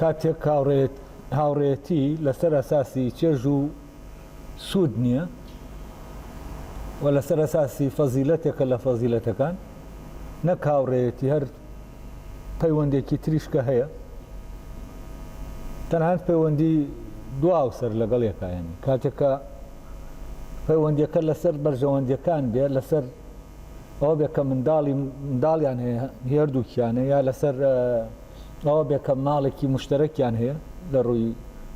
کاتێک هاوڕێیەتی لەسەر ئەساسی چێژ و سوود نییە و لەسەر ئەساسی فەزیلەتێکە لە فەزیلەتەکان نەک هاوڕێیەتی هەر پەیوەندێکی تریشکە هەیە تەنانەت پەیوەندی دواو سەر لەگەڵ یەکایەن کاتێکە پەیوەندەکە لەسەر بەرژەوەندەکان بێ لەسەر ئەوە بێ کە منداڵی منداڵیان هەیە هێردووکیانە یا لەسەر ئەوە بێ کە ماڵێکی مشتەرەکیان هەیە لە ڕووی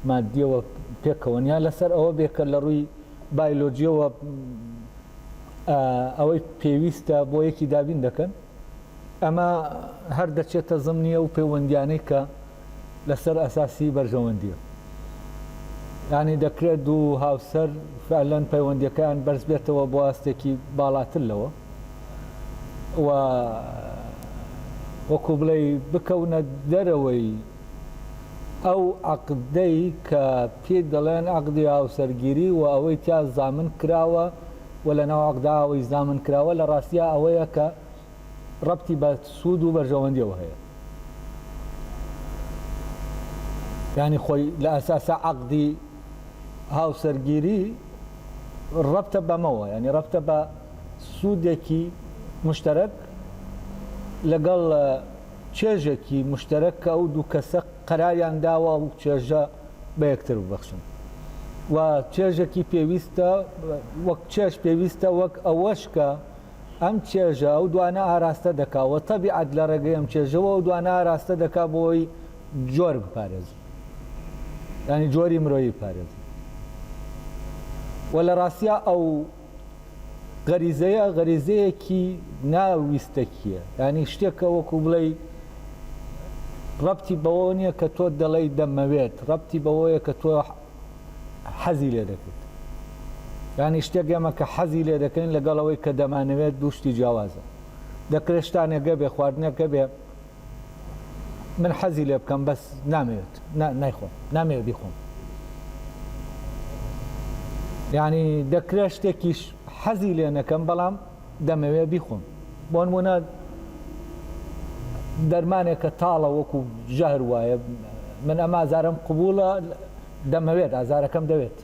مادیەوە پێکەوەن یا لەسەر ئەوە بێ کە لە ڕووی بایلۆجیەوە ئەوەی پێویستە بۆ یەکی دابین دەکەن ئەمە هەر دەچێتە زمنیە و پەیوەندیانەی کە لەسەر ئەساسی بەرژەوەندیە یانی دەکرێت دوو هاوسەر فعلەن پەیوەندیەکەیان بەرز بێتەوە بۆ ئاستێکی باڵاتر لەوە و وەکو بڵێ بکەونە دەرەوەی ئەو عقدەی کە پێ دەڵێن عقدی هاوسەرگیری و ئەوەی تیا زامن کراوە و لە ناو عقداوەی زامن کراوە لە ڕاستیا ئەوەیە کە ڕەبتی بە سوود و بەرژەوەندیەوە هەیە یانی خۆی لە ئەساسا عقدی هاوسەرگیری ڕەبتە بەمەوە ینی ڕەبتە بە سوودێکی مشتەرەک لەگەڵ چێژێکی مشتەرەک کە ئەو دوو کەسە قەراریان داوە و چێژە بە یەکتر ببەخشن و چێژێکی پێویستە وەک چێش پێویستە وەک ئەوەش کە ئەم چێژە ئەو دوانە ئاراستە دەکا و تەبیعەت لە ڕێگەی ئەم چێژەوە ئەو دوانە ئاراستە دەکا بۆ ئەوەی جۆر بپارێزن یانی جۆری مرۆیی بپارێزن و لە ڕاستیا ئەو غەریزەیە غەریزەیەکی ناویستەکیە ینی شتێکە وەکو بڵێ ڕەتی بەوە نییە کە تۆ دەڵێی دەمەوێت ڕەتی بەوەیە کە تۆ حەزی لێ دەکرد. یانی شتێک ئێمە کە حەزی لێ دەکەین لەگەڵ ئەوەی کە دەمانەوێت دوو شتی جیاوازە. دەکرێت شتانێک هەبێت، خواردنێک هەبێت من حەزی لێ بکەم بەس نامەوێت نایخۆم، نامەوێت بیخۆم. یانی دەکرێت شتێکیش حەزی لێ نەکەم بەڵام دەمەوێت بیخۆم بۆنمونە دەرمانێک کە تاڵە وەکو ژەهر وایە من ئەم ئازارم قوبولە دەمەوێت ئازارەکەم دەوێت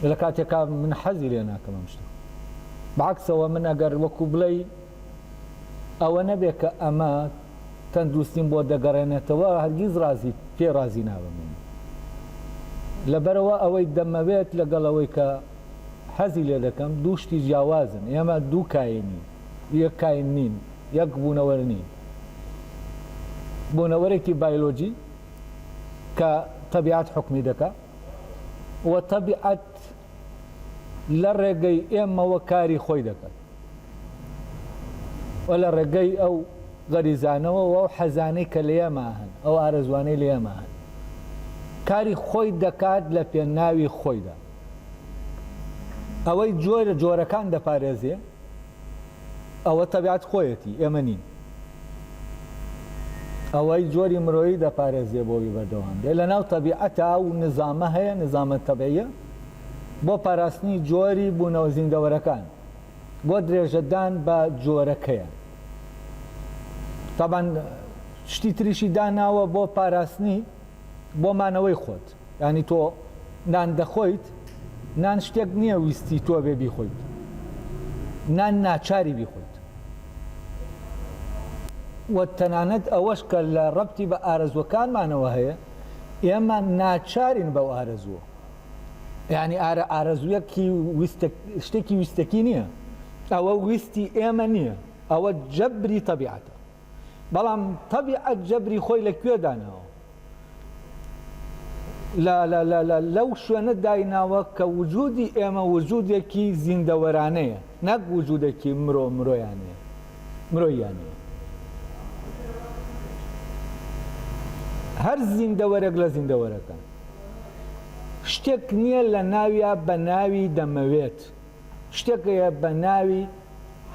لە کاتێکا من حەزی لێ ناکەم ئەم شتە باکسەوە من ئەگەر وەکو بڵێ ئەوە نەبێت کە ئەمە تەندروستیم بۆ دەگەڕێنێتەوە هەرگیز رازی پێ رازی نابم لەبەرەوە ئەوەی دەمەوێت لەگەڵەوەی کە حەزی لێ دەکەم دوو شتی جیاوازن ئێمە دوو کاینین یەک کاین نین یەک بوونەوەر نین بوونەوەرێکی بایلۆجی کە تەبیعەت حکومی دەکا و تەبیعەت لە ڕێگەی ئێمەوە کاری خۆی دەکەن و لە ڕێگەی ئەو غەریزانەوە و حەزانەی کە لە ئێمە هەن ئەو ئارەزوانەی لە ئێمە هەن کاری خۆی دەکات لە پێناوی خۆیدا ئەوەی جۆرە جۆرەکان دەپارێزێ ئەوە تەبیعەت خۆیەتی ئێمە نین ئەوەی جۆری مرۆیی دەپارێزێ بۆوی بەردەوام بێ لە ناو تەبیعەتا و نزامە هەیە نزامە تەبعە بۆ پاراستنی جۆری بوونەوە زیندەوەرەکان بۆ درێژەدان بە جۆرەکەیە تابان شتی تریشی داناوە بۆ پاراستنی بۆ مانەوەی خۆت یانی تۆ نان دەخۆیت نان شتێک نیە ویستی تۆبێ بیخۆیت نان ناچاری بیخۆیت وە تەنانەت ئەوەش کە لە ڕەبتی بە ئارەزوەکانمانەوە هەیە ئێمە ناچارین بەو ئارەزووە یانی ئارە ئارەزویەکی ویستەک شتێکی ویستەکی نییە ئەوە ویستی ئێمە نییە ئەوە جەبری تەبیعەتە بەڵام تەبیعەت جەبری خۆی لە کوێ داناوە؟ لەو شوێنە دایناوە کە وجودی ئێمە وجودێکی زیندەوەرانەیە نەک وجودێکی مرۆ مرۆیانەیە مرۆیانەیە هەر زیندەوەرەک لە زیندەوەرەکان شتێک نییە لە ناویا بە ناوی دەمەوێت شتێک هەیە بە ناوی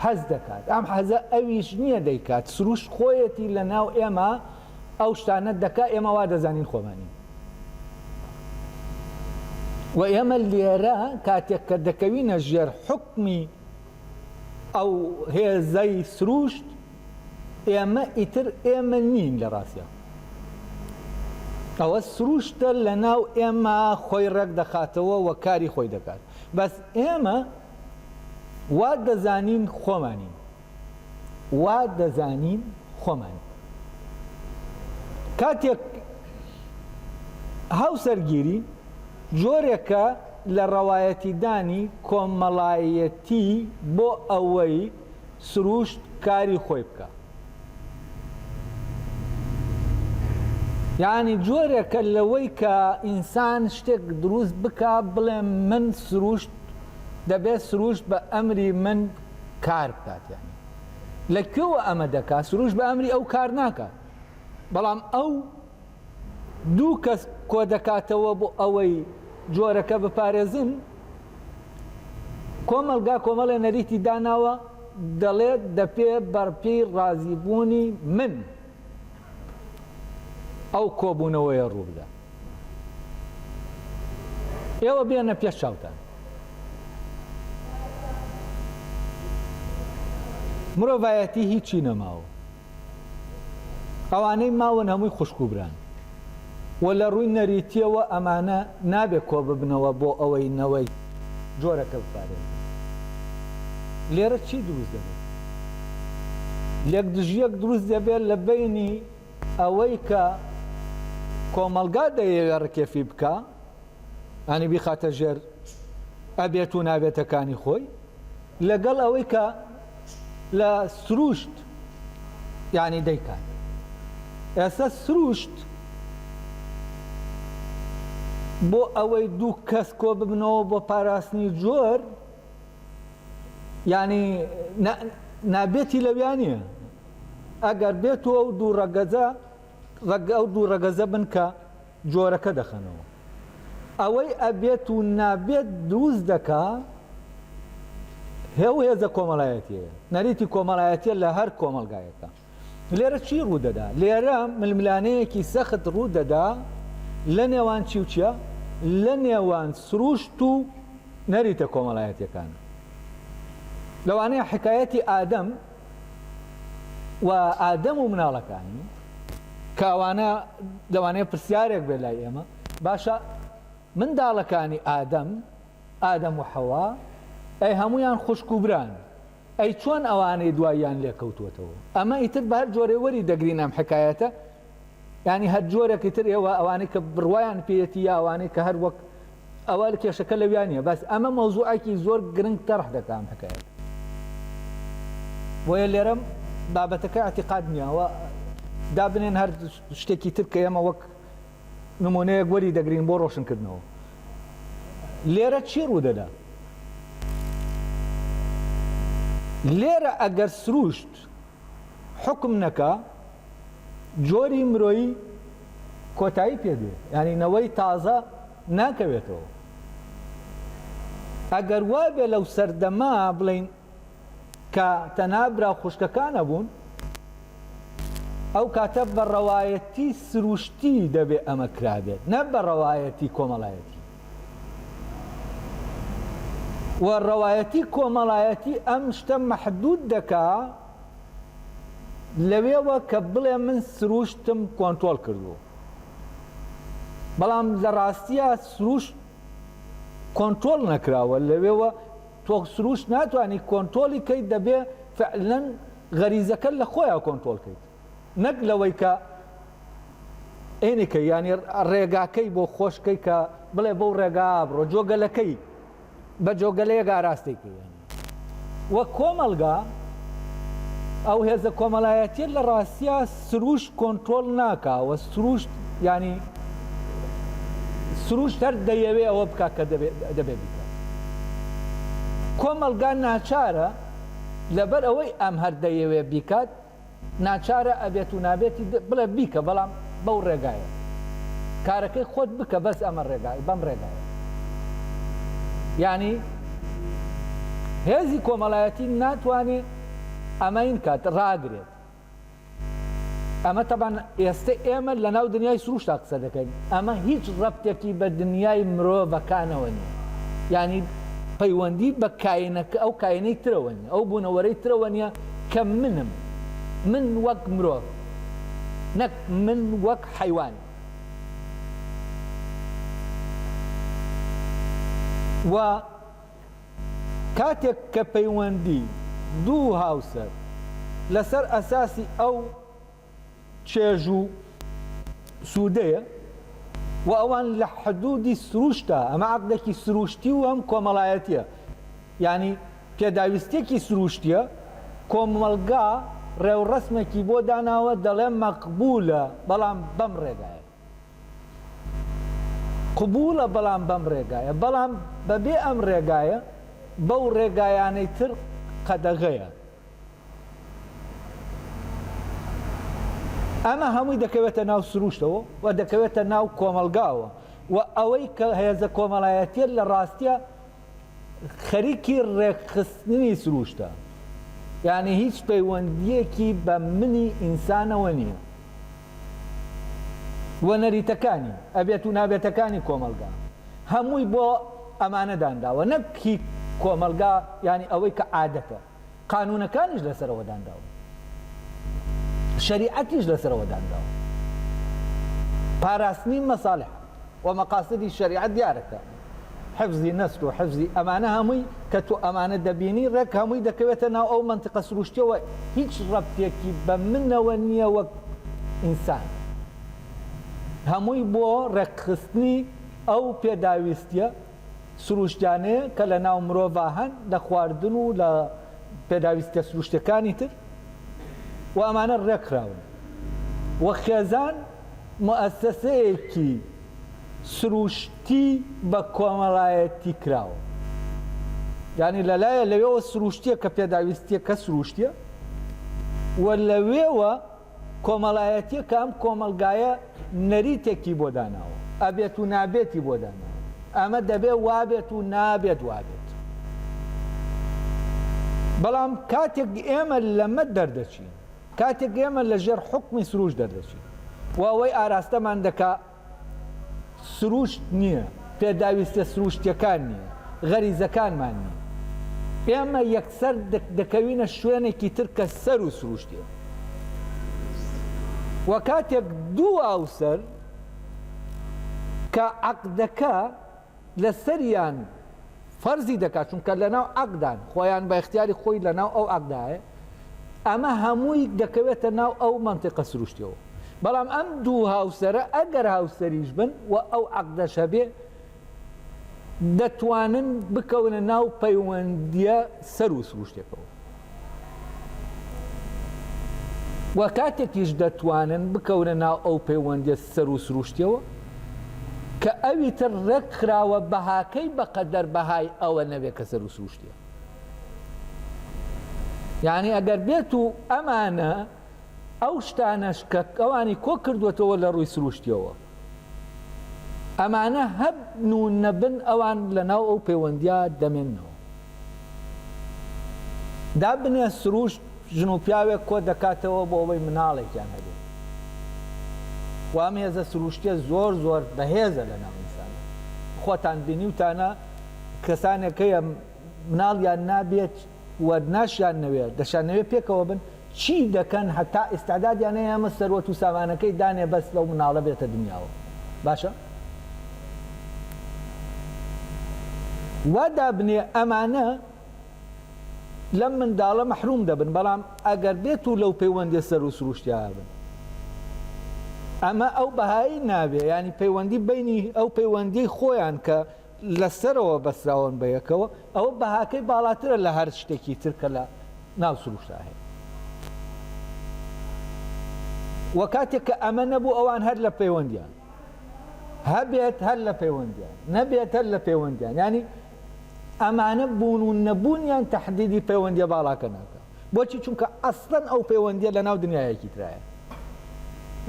حەز دەکات ئەم حەزە ئەویش نییە دەیکات سروشت خۆیەتی لە ناو ئێمە ئەو شتانە دەکات ئێمە وا دەزانین خۆمانین و ئێمە لێرە کاتێک کە دەکەوینە ژێر حکمی ئەو هێزەی سروشت ئێمە ئیتر ئێمە نین لە ڕاستە ئەوە سروشتە لە ناو ئێمە خۆی ڕێک دەخاتەوە و کاری خۆی دەکات بەس ئێمە وا دەزانین خۆمانین وا دەزانین خۆمان کاتێک هاوسەرگیری جۆرێکە لە ڕەوایەتیدانی کۆمەڵایەتی بۆ ئەوەی سروشت کاری خۆی بکا. یانی جۆرێکە لەوەی کە ئینسان شتێک دروست بکا بڵێ من سروشت دەبێت سروشت بە ئەمری من کار بکات یانی لە کوێوە ئەمە دەکات سروشت بە ئەمری ئەو کار ناکات بەڵام ئەو دوو کەس کۆدەکاتەوە بۆ ئەوەی جۆرەکە بپارێزن، کۆمەڵگا کۆمەڵێ نەریتی داناوە دەڵێت دەپێ بەرپێی ڕازیبوونی من ئەو کۆبوونەوەیە ڕووبدا. ئێوە بێنە پێش چاوتان. مرۆڤایەتی هیچی نەماوە. ئەوانەی ماون هەمووی خوشک و بران و لە ڕووی نەریتییەوە ئەمانە نابێت کۆببنەوە بۆ ئەوەی نەوەی جۆرەکە بپارێزن. لێرە چی دروست دەبێت؟ یەکدژییەک دروست دەبێت لە بەینی ئەوەی کە کۆمەڵگا دەیەوێت ڕکێفی بکا، یانی بیخاتە ژێر ئەبێت و نابێتەکانی خۆی، لەگەڵ ئەوەی کە لە سروشت یانی دەیکات ئێستا سروشت بۆ ئەوەی دوو کەس کۆ ببنەوە بۆ پاراستنی جۆر یانی نابێتی لەویانە ئەگەر بێتەوە ئەو دوو ڕەگەزە ڕەگ ئەو دوو ڕەگەزە بن کە جۆرەکە دەخەنەوە ئەوەی ئەبێت و نابێت دروست دەکا هێ و هێزە کۆمەلایەتیە نەریتی کۆمەلایەتە لە هەر کۆمەلگایەکە لێرە چی ڕوودەدا لێرە ململانەیەکی سەخت ڕوودەدا لە نێوان چی و چیە لە نێوان سروشت و نەریتە کۆمەلایەتەکان لەوانەیە حکایەتی ئادەم و ئادەم و مناڵەکانی کە ئەوانە لەوانەیە پرسیارێک بێ لای ئێمە باشە منداڵەکانی ئادەم ئادەم و حەوا ئەی هەمویان خوشک و بران ئەی چۆن ئەوانەی دواییان لێکەوتوەتەوە ئەمە ئیتر بە هەر جۆرێ وەری دەگرین ئەم حکایەتە یانی هەر جۆرێکی تر ئێوە ئەوانەی کە بڕوایان پێیەتی یا ئەوانەی کە هەر وەک ئەوە کێشەکە لەویان نیە بەس ئەمە مەوزوعێکی زۆر گرنگ تەرح دەکەم حکایەت بۆیە لێرەم بابەتەکە اعتقاد نییەوە دابنێن هەر شتێکی تر کە ئێمە وەک نمونەیەک وەری دەگرین بۆ ڕۆشنکردنەوە لێرە چی ڕوودەدا لێرە ئەگەر سروشت حوکم نەکا جۆری مرۆیی کۆتایی پێ دێ یانی نەوەی تازە ناکەوێتەوە ئەگەر وابێ لەو سەردەمە بڵین کە تەنها برا خوشکەکانە بوون ئەو کاتە بە ڕەوایەتی سروشتی دەبێ ئەمە کرابێت نە بە ڕەوایەتی کۆمەڵایەتی و ڕەوایەتی کۆمەڵایەتی ئەم شتە مەحدوود دەکا لەوێوە کە بڵێ من سرووشتم کۆنترۆڵ کردووە بەڵام لە ڕاستیە سرووشت کۆنترۆڵ نەکراوە لەوێوە تۆ سرووشت ناتوانانی کۆنتۆڵی کەیت دەبێ فعلەن غەریزەکە لە خۆیان کۆنتۆڵکەیت نەک لەوەی کە ئێنکەی یانی ڕێگاکەی بۆ خۆش کەی کە بڵێ بەو ڕێگایا بڕۆ جۆگەلەکەی بە جۆگەلەیەک ئاراستەی کەی یانی وەک کۆمەڵگا ئەو هێزە کۆمەلایەتیە لە ڕاستیا سروشت کۆنترۆڵ ناکا وە سروشت یانی سروشت هەر دەیەوێ ئەوە بکا کە دەبێ بیکە کۆمەڵگا ناچارە لەبەر ئەوەی ئەم هەر دەیەوێ بیکات ناچارە ئەبێت و نابێتی بڵێ بیکە بەڵام بەو ڕێگایە کارەکەی خۆت بکە بەس ئەمە ڕێگا بەم ڕێگایە یانی هێزی کۆمەڵایەتی ناتوانێ ئەمەین کات ڕاگرێت ئەمە تەبان ئێستا ئێمە لە ناو دنیای سروشتا قسە دەکەین ئەمە هیچ ڕەبتێکی بە دنیای مرۆڤەکانەوە نیە ینی پەیوەندی بە کاینەکە ئەو کاینەی ترەوە نیە ئەو بوونەوەرەی ترەوە نیە کە منم، من وەک مرۆڤ نەک من وەک حەیوان. وە کاتێک کە پەیوەندی دوو هاوسەر لەسەر ئەساسی ئەو. چێژ و سوودەیە و ئەوان لە حدوودی سرووشتە، ئەمە عەقدێکی سرووشتی و هەم کۆمەڵایەتییە، یانی پێداویستییەکی سرووشتییە، کۆمەڵگا ڕێوڕەسمێکی بۆ داناوە دەڵێ مەقبوولە بەڵام بەم ڕێگایە، قبووڵە بەڵام بەم ڕێگایە، بەڵام بەبێ ئەم ڕێگایە بەو ڕێگایانەی تر قەدەغەیە. ئەمە هەمووی دەکەوێتە ناو سروشتەوە و دەکەوێتە ناو کۆمەلگاوە و ئەوەی کە هێزە کۆمەلایەتیە لە ڕاستیە خەریکی ڕێکخستنی سروشتە یانی هیچ پەیوەندیەکی بە منی ئینسانەوە نیە. و نەریتەکانی، ئەبێت و نابێتەکانی کۆمەڵگا، هەمووی بۆ ئەمانە دانراوە، نەک هی کۆمەڵگا، یانی ئەوەی کە عادەتە، قانوونەکانیش لەسەرەوە دانراون، شەریعەتیش لەسەرەوە دانراوە، پاراستنی مەسالح و مەقاسدی شەریعەت دیارە کە. حفزی نەسک و حفزی ئەمانە هەمووی کە تۆ ئەمانە دەبینی ڕێک هەمووی دەکەوێتە ناو ئەو مەنتقە سروشتیەوە هیچ ڕەبتێکی بە منەوە نییە وەک ئینسان هەمووی بۆ ڕێکخستنی ئەو پێداویستیە سروشتیانەیە کە لە ناو مرۆڤ هەن لە خواردن و لە پێداویستە سروشتەکانی تر و ئەمانە ڕێکخراون و خێزان موئەسەسەیەکی سروشتی بە کۆمەڵایەتی کراوە یانی لەلایە لەوێوە سروشتیە کە پێداویستیە کە سروشتیە و لەوێوە کۆمەڵایەتیە کە ئەم کۆمەلگایە نەریتێکی بۆ داناوە ئەبێت و نابێتی بۆ داناوە ئەمە دەبێ وابێت و نابێت وابێت بەڵام کاتێک ئێمە لەمە دەردەچین کاتێک ئێمە لە ژێر حوکمی سرووشت دەردەچین و ئەوەی ئاراستەمان دەکا سرووشت نییە، پێداویستیە سرووشتیەکان نییە، غەریزەکانمان نییە، ئێمە یەکسەر دەکەوینە شوێنێکی تر کە سەر و سرووشتیە و کاتێک دوو ئاوسەر کە عەقدەکە، لەسەریان فەرزی دەکات چونکە لەناو عەقدان خۆیان بە اختیاری خۆی لەناو ئەو عەقدایە ئەمە هەمووی دەکەوێتە ناو ئەو مەنتیقە سروشتیەوە بەڵام ئەم دوو هاوسەرە ئەگەر هاوسەریش بن و ئەو عەقدەش هەبێ دەتوانن بکەونە ناو پەیوەندیە سەر و سروشتێکەوە و کاتێکیش دەتوانن بکەونە ناو ئەو پەیوەندیە سەر و سروشتیەوە کە ئەوی تر ڕێک خراوە بەهاکەی بەقەدەر بەهای ئەوە نەبێت کە سەر و سروشتیە یعنی ئەگەر بێت و ئەمانە ئەو شتانەش کە ئەوانی کۆ کردووەتەوە لە ڕووی سرووشتیەوە ئەمانە هەبن و نەبن ئەوان لە ناو ئەو پەیوەندیا دەمێنەوە دابنێ سرووشت ژن و پیاوێک کۆ دەکاتەوە بۆ ئەوەی مناڵێکیان هەبێت وام هێزە سروشتە زۆر زۆر بەهێزە لە ناوئسان خۆتان بینیوتانە کەسانێک هەیە مناڵیان نابێت و ناشیان نەوێت دەشانەوێت پێکەوە بن چی دەکەن هەتا ئیستعدادیان هەیە ئەمە سەروەت و سامانەکەی دانێ بەس لەو مناڵە بێتە دنیاوە باشە وا دابنێ ئەمانە لەم منداڵە مەحروم دەبن بەڵام ئەگەر بێت و لەو پەیوەندی سەر و سروشتیان بن ئەمە ئەو بەهایی ناوێ ینی پەیوەندی بینی ئەو پەیوەندی خۆیان کە لە سەرەوە بەستراون بە یەکەوە ئەوە بەهاکەی باڵاترە لە هەر شتێکی تر کە لە ناو سروشتا هەیە وە کاتێک کە ئەمە نەبوو ئەوان هەر لە پەیوەندیان هەبێت هەر لە پەیوەندیان نەبێت هەر لە پەیوەندیان ینی ئەمانە بوون و نەبوونیان تهدیدی پەیوەندیە باڵاکە ناکە بۆچی چونکە ئەسڵەن ئەو پەیوەندیە لە ناو دنیایەکی ترایە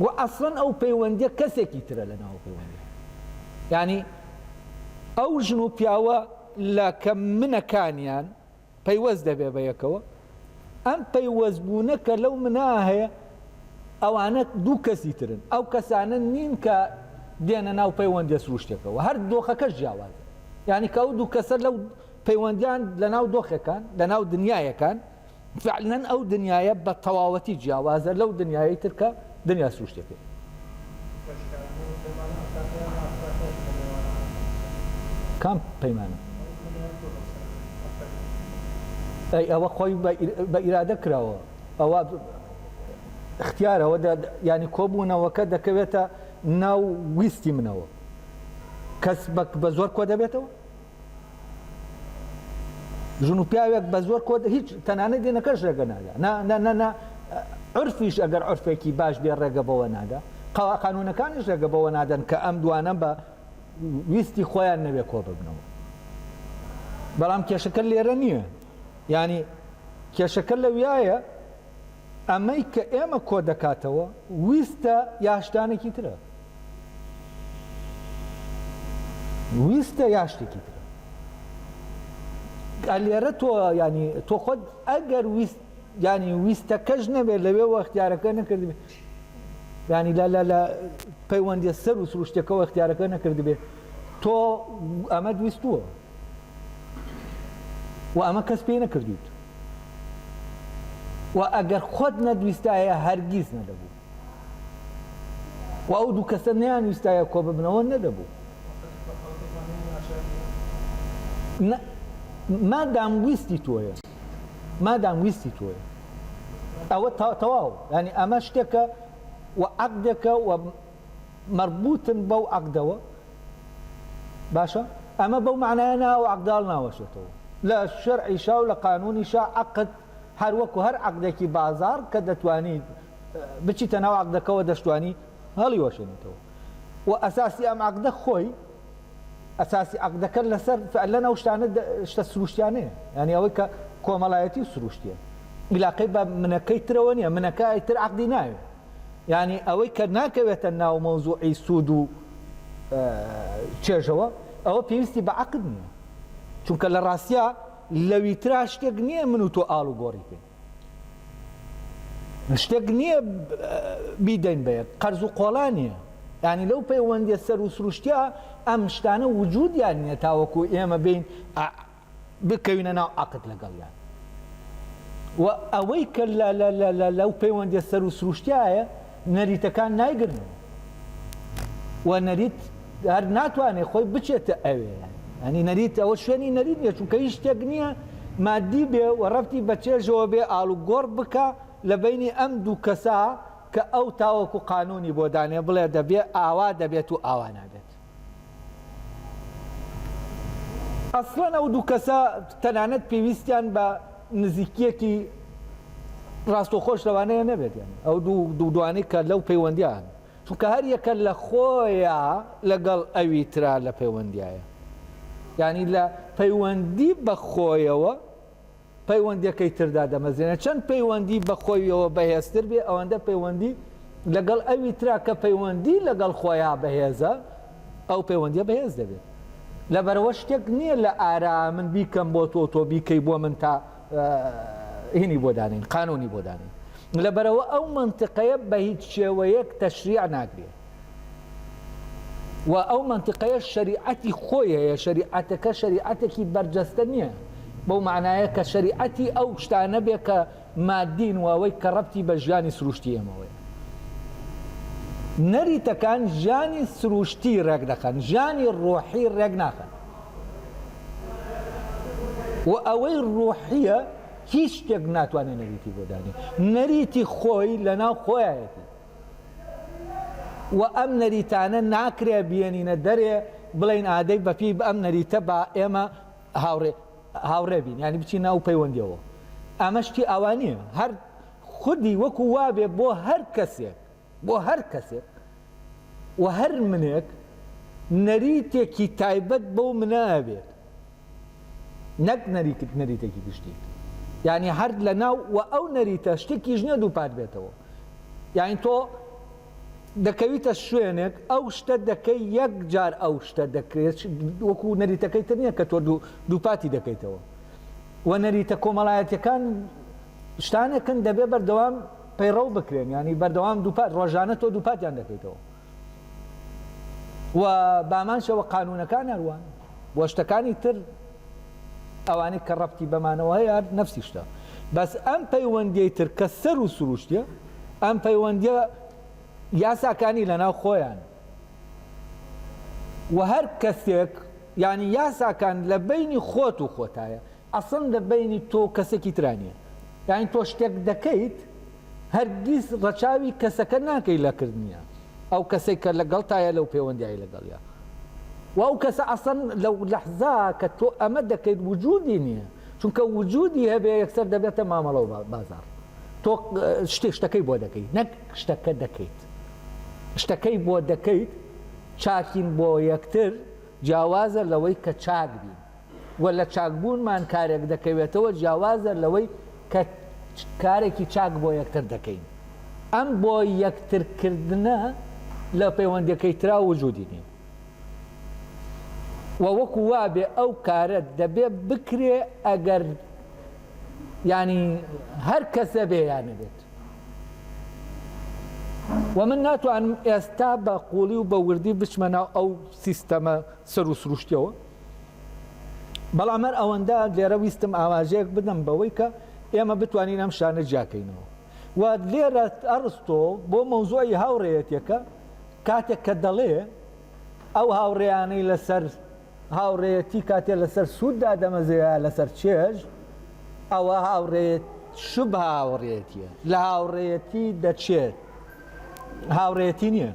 و ئەسڵەن ئەو پەیوەندیە کەسێکی ترە لە ناو پەیوەندی ینی ئەو ژن و پیاوە لە کە منەکانیان پەیوەست دەبێ بە یەکەوە ئەم پەیوەست بوونە کە لەو منا هەیە ئەوانە دوو کەسی ترن ئەو کەسانە نین کە دێنە ناو پەیوەندە سروشتێکەوە هەر دۆخەکە جیاواز ینی کە ئەو دوو کەسە لەو پەیوەندیان لە ناو دۆخەکان لە ناو دنیایەکان فەعلەن ئەو دنیایە بە تەواوەتی جیاوازە لەو دنیایەی تر کە دنیا سروشتیەکەیە. کام پەیمانە؟ ئەی ئەوە خۆی بە ئیرادە کراوە ئەوە اختیارەوە ینی کۆبوونەوەکە دەکەوێتە ناو ویستی منەوە کەس بە زۆر کۆ دەبێتەوە ژن و پیاوێک بە زۆر کۆ هیچ تەنانە دێنەکەش ڕێگە نادا نە عرفیش ئەگەر عرفێکی باش بێ ڕێگە بەوە نادا قەوا قانونەکانیش ڕێگە بەوە نادەن کە ئەم دوانە بە ویستی خۆیان نەوێ کۆ ببنەوە بەڵام کێشەکە لێرە نییە ینی کێشەکە لەویایە ئەمەی کە ئێمە کۆ دەکاتەوە ویستە یا شتانێکی ترە؟ ویستە یا شتێکی ترە؟ ئە لێرە تۆ ینی تۆ خۆت ئەگەر ویست ینی ویستەکەش نەبێ لەوێ وەختیارەکە نەکردبێ ینی لە لە لە پەیوەندی سەر و سروشتەکەەوە اختیارەکە نەکردبێ تۆ ئەمە ویستووە وە ئەمە کەس پێی نەکردوویت و ئەگەر خۆت نەدویستایە هەرگیز نەدەبوو و ئەو دوو کەسە نیان ویستایە کۆ ببنەوە نەدەبوو مادام ویستی تۆیە مادام ویستی تۆیە ئەوە تەواو ینی ئەمە شتێکە و عقدێکە و مەربوتن بەو عەقدەوە باشە ئەمە بەو مەعنایە نا ئەو عەقدە هەڵناوەشێتەوە لە شەرعیشا و لە قانونیشا عەقد هەر وەکو هەر عەقدێکی بازاڕ کە دەتوانی بچیتە ناو عەقدەکەوە دەشتوانی هەڵیوەشێنیتەوە و ئەساسی ئەم عەقدە خۆی ئەساسی عقدەکە لەسەر فعلەن ئەو شتانە شتە سروشتیانەیە ینی ئەوەی کە کۆمەڵایەتی و سروشتیە عیلاقەی بە منەکەی ترەوە نیە منەکەی تر عقدی ناوێ یانی ئەوەی کە ناکەوێتە ناو مەوزوعی سوود و چێژەوە ئەوە پێویستی بە عەقد نییە چونکە لە ڕاستیا لەوی ترا شتێک نییە من و تۆ ئاڵوگۆڕی پێ شتێک نییە بیدەین بە یەک قەرز و قۆڵا نییە ینی لەو پەیوەندیە سەر و سروشتیا ئەم شتانە وجودیان نییە تاوەکو ئێمە بین بکەوینە ناو عەقد لەگەڵیان و ئەوەی کە لەو پەیوەندیە سەر و سروشتایە نەریتەکان نایگرن و نەریت هەر ناتوانێت خۆی بچێتە ئەوێ ئەنی نەریت ئەوە شوێنی نەریت نیە چونکە هیچ شتێک نییە مادی بێ و ڕفتی بەچێژەوە بێ ئاڵو گۆڕ بکە لە بینی ئەم دوو کەسا کە ئەو تاوەکو قانونی بۆ دانێ بڵێ دەبێ ئاوا دەبێت و ئاوا نابێت ئەسڵەن ئەو دوو کەسە تەنانەت پێویستیان بە نزیکیەکی ڕاستەوخۆش لەوانەیە نەبێت ئەو دوو دوانەی کە لەو پەیوەندیان چونکە هەر یەکە لە خۆیە لەگەڵ ئەوی ترا لە پەیوەندیایە ینی لە پەیوەندی بەخۆیەوە پەیوەندیەکەی تر دادەمەزرێنێت چەند پەیوەندی بە خۆیەوە بەهێزتر بێ ئەوەندە پەیوەندی لەگەڵ ئەوی ترا کە پەیوەندی لەگەڵ خۆیا بەهێزە ئەو پەیوەندیە بەهێز دەبێت لەبەرەوە شتێک نییە لە ئارا من بیکەم بۆ تۆ تۆ بیکەی بۆ من تا هینی بۆ دانین قانونی بۆ دانین لەبەرەوە ئەو منتقەیە بە هیچ شێوەیەک تەشریع ناکرێت و ئەو منتقەیە شەریعەتی خۆی هەیە شەریعەتەکە شەریعەتێکی بەرجەستە نییە بەو معناە کە شەریعەتی ئەو شتانە بێ کە مادین و ئەوەی کە ڕەتی بە ژیانی سروشتی ئەمەوەی نەریتەکان ژیانی سروشتی ڕێک دەخەن ژیانی ڕۆحی ڕێک ناخەن و ئەوەی ڕۆحیە هیچ شتێک ناتوانێت نەریتی بۆدانی نەریتی خۆی لە ناو خۆیەتی و ئەم نەریتانە ناکرێ بیێنینە دەرێ بڵێین ئادەی بەپیی ئەم نەریتە با ئێمە هاوڕێ هاوڕێ بین یعنی بچین ناو پەیوەندیەوە ئەمە شتی ئاوا نییە هەر خودی وەکو وابێ بۆ هەر کەسێک بۆ هەر کەسێک و هەر منێک نەریتێکی تایبەت بەو منە ئەبێت نەک نەریت نەریتێکی گشتی یانی هەر لە ناو و ئەو نەریتە شتێکیش نیە دووپات بێتەوە یانی تۆ دەکەویتە شوێنێک ئەو شتە دەکەی یەک جار ئەو شتە دەکرێت وەکو نەریتەکەی تر نییە کە تۆ دووپاتی دەکەیتەوە و نەریتە کۆمەڵایەتەکان شتانێکن دەبێ بەردەوام پەیڕەو بکرێن ینی بەردەوام دووپات ڕۆژانە تۆ دووپاتیان دەکەیتەوە و بامانشەوە قانونەکان هەروان و شتەکانی تر ئەوانەی کە ڕەبتی بەمانەوە هەیە هەر نەفسی شتە بەس ئەم پەیوەندیەی تر کە سەر و سروشتە ئەم پەیوەندیە یاساکانی لەناو خۆیان و هەر کەسێک یعنی یاساکان لە بینی خۆت و خۆتایە ئەسن لە بینی تۆ کەسێکی ترانیە یعنی تۆ شتێک دەکەیت هەرگیز ڕەچاوی کەسەکە ناکەی لە کردنی ئەو کەسەی کە لەگەڵتایە لەو پێوەندیای لەگەڵیا و ئەو کەسە ئەسەن لە لەحزا کە تۆ ئەمە دەکەیت وجودی نییە چونکە وجودی هەبێ یەکسەر دەبێتە مامەڵە و بازار تۆ شتێ شتەکەی بۆ دەکەیت نەک شتەکە دەکەیت شتەکەی بۆ دەکەیت چاکین بۆ یەکتر جیاوازە لەوەی کە چاک بین وە لە چاکبوونمان کارێک دەکەوێتەوە جیاوازە لەوەی کە کارێکی چاک بۆ یەکتر دەکەین ئەم بۆ یەکترکردنە لە پەیوەندیەکەی ترا وجودی نیە وە وەکو وابێ ئەو کارە دەبێ بکرێ ئەگەر یانی هەر کەسە بێ یا نەبێت و من ناتوانم ئێستا بە قوڵی و بە وردی بچمە ناو ئەو سیستەمە سەر و سروشتیەوە بەڵام هەر ئەوەندە لێرە ویستم ئاماژەیەک بدەم بەوەی کە ئێمە بتوانین ئەم شانە جیاکەینەوە و لێرە ئەڕستۆ بۆ مەوزوعی هاوڕێیەتەکە کاتێک کە دەڵێ ئەو هاوڕێیانەی لەسەر هاوڕێیەتی کاتێ لەسەر سوود دادەمەزەیە لەسەر چێژ ئەوە هاوڕێت شوب هاوڕێتیە لە هاوڕێەتی دەچێت هاوڕێتی نییە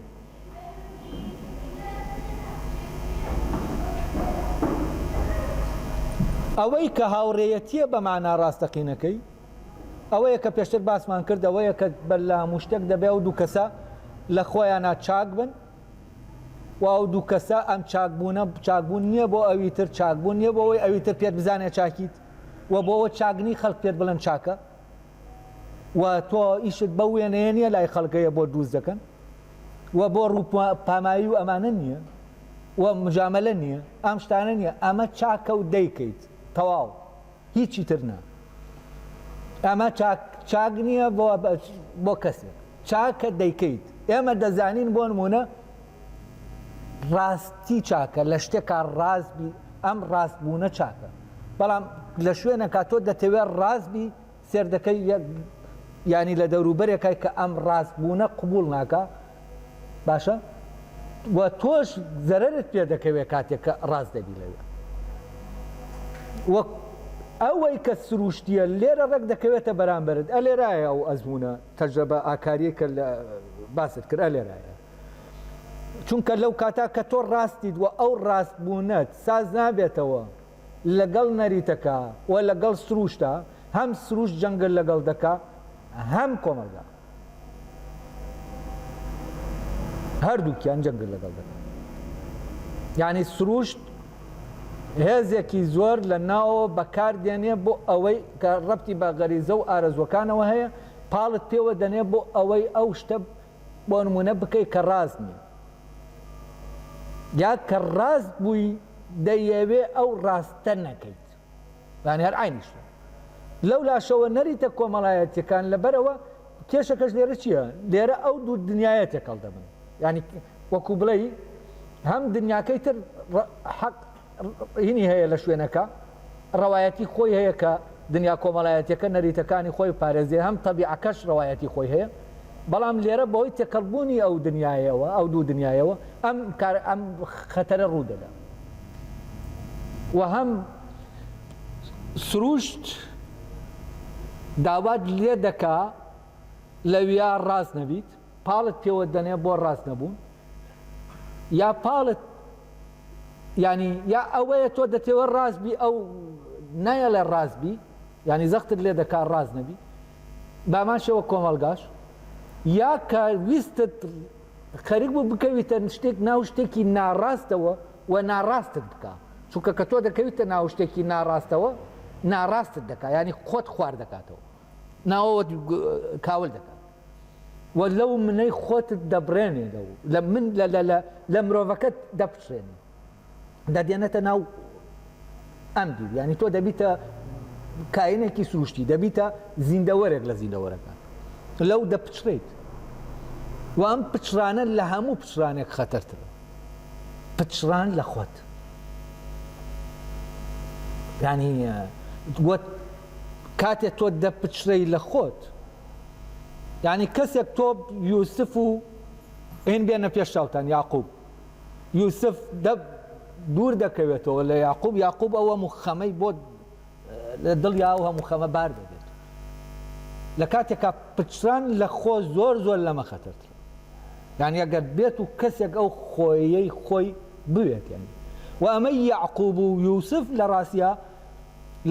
ئەوەی کە هاوڕێیەتییە بە مانا ڕاستەقینەکەی ئەوەیە کە پێشتر باسمان کرد ئەوەیە کە بەر لە هەموو شتێک دەبێ و دوو کەسە لە خۆیانە چاک بن و ئەو دوو کەسە ئەم چاکبوونە چاکبوون نییە بۆ ئەوی تر چاکبوون نییە بۆەوەی ئەوی تر پێت بزانێ چاکیت و بۆەوە چاگنی خەڵک پێت بڵێن چاکە و تۆ ئیشت بەو وێنەیە نییە لای خەڵکەیە بۆ دروست دەکەن و بۆ ڕوو پامایی و ئەمانە نییە و مجاملە نییە ئەم شتانە نییە ئەمە چاکە و دەیکەیت تەواو هیچی تر نا ئەمە چاک نییە بۆ کەسێک چاکە دەیکەیت ئێمە دەزانین بۆ نمونە ڕاستی چاکە لە شتێکا ڕاست بی ئەم ڕاست بوونە چاکە بەڵام لە شوێنەکە تۆ دەتەوێت ڕاست بی سێردەکەی یەک ینی لە دەوروبەرێکای کە ئەم ڕاست بوونە قوبول ناکە باشە و تۆش زەرت پێ دەکەوێت کاتێک کە ڕاست دەبی لەوێ وەک ئەوەی کە سروشتیە لێرە ڕێک دەکەوێتە بەرامبرت ئە لێرایە ئەو ئەزمونە تەجربە ئاکاریە کە باست کرد ئە لێرایە چونکە لەو کاتە کە تۆ ڕاستیت و ئەو ڕاستبوونەت ساز نابێتەوە لەگەڵ نەریتەکە و لەگەڵ سرووشتە، هەم سرووشت جەنگت لەگەڵ دەکا هەم کۆمەڵگا. هەردووکیان جەنگت لەگەڵ دەکا. یانی سرووشت هێزێکی زۆر لە ناوەوە بەکار دێنێ بۆ ئەوەی کە ڕەبتی بە غەریزە و ئارەزوەکانەوە هەیە پاڵت پێوە دەنێ بۆ ئەوەی ئەو شتە بۆ نموونە بکەی کە ڕاست نین یا کە ڕاست بووی دەیەوێ ئەو ڕاستە نەکەیت یانی هەر عینی شتە لەو لاشەوە نەریتە کۆمەڵایەتیەکان لەبەرەوە کێشەکەش لێرە چییە لێرە ئەو دوو دنیاە تێکەڵ دەبن ینی وەکو بڵێ هەم دنیاکەی تر حەق ینی هەیە لە شوێنەکە ڕەوایەتی خۆی هەیە کە دنیا کۆمەڵایەتەکە نەریتەکانی خۆی پارێزێ هەم تەبیعەکەش ڕەوایەتی خۆی هەیە بەڵام لێرە بەهۆی تێکەڵبوونی ئەو دنیاەوە ئەو دوو دنیاەوە ئەم کار ئەم خەتەرە ڕوو دەدا و هەم سروشت داوات لێ دەکا لەویا ڕاست نەبیت پاڵت پێوە دەنێ بۆ ڕاست نەبوون یا پاڵت ینی یا ئەوەیە تۆ دەتێوە ڕاست بی ئەو نایەڵێ ڕاست بی ینی زەختت لێ دەکا ڕاست نەبی بامان شەوە کۆمەڵگاش یا کە ویستت خەرک بوو بکەویتە شتێک ناو شتێکی ناڕاستەوە و ناڕاستت بکە چونکە کە تۆ دەکەویتە ناو شتێکی ناڕاستەوە ناڕاستت دەکات ینی خۆت خوارد دەکاتەوە ناوەوە کاول دەکات وە لەو منەی خۆتت دەبڕێنێ لەو لە من لە لە لە لە مرۆڤەکەت دەپچڕێنێ دەدێنێتە ناو ئەم بیر یعنی تۆ دەبیتە کاینێکی سروشتی دەبیتە زیندەوەرێک لە زیندەوەرەکان لەو دەپچڕیت و ئەم پچرانە لە هەموو پچرانێک خەتەرتر پچڕان لە خۆت ینی وە کاتێ تۆ دەپچرەی لە خۆت یانی کەسێک تۆ یوسف و ئین بێنە پێش چاوتان یاقوب یوسف دە دوور دەکەوێتەوە لە یاقوب یاقوب ئەوە مخەمەی بۆ لە دڵ یا و هەموو خەمە بار دەبێت لە کاتێکا پچران لە خۆ زۆر زۆر لەمە خەتەرتر یان ئەگەر بێت و کەسێک ئەو خۆیەی خۆی بوێت یانی و ئەمە یعقوب و یوسف لە ڕاستە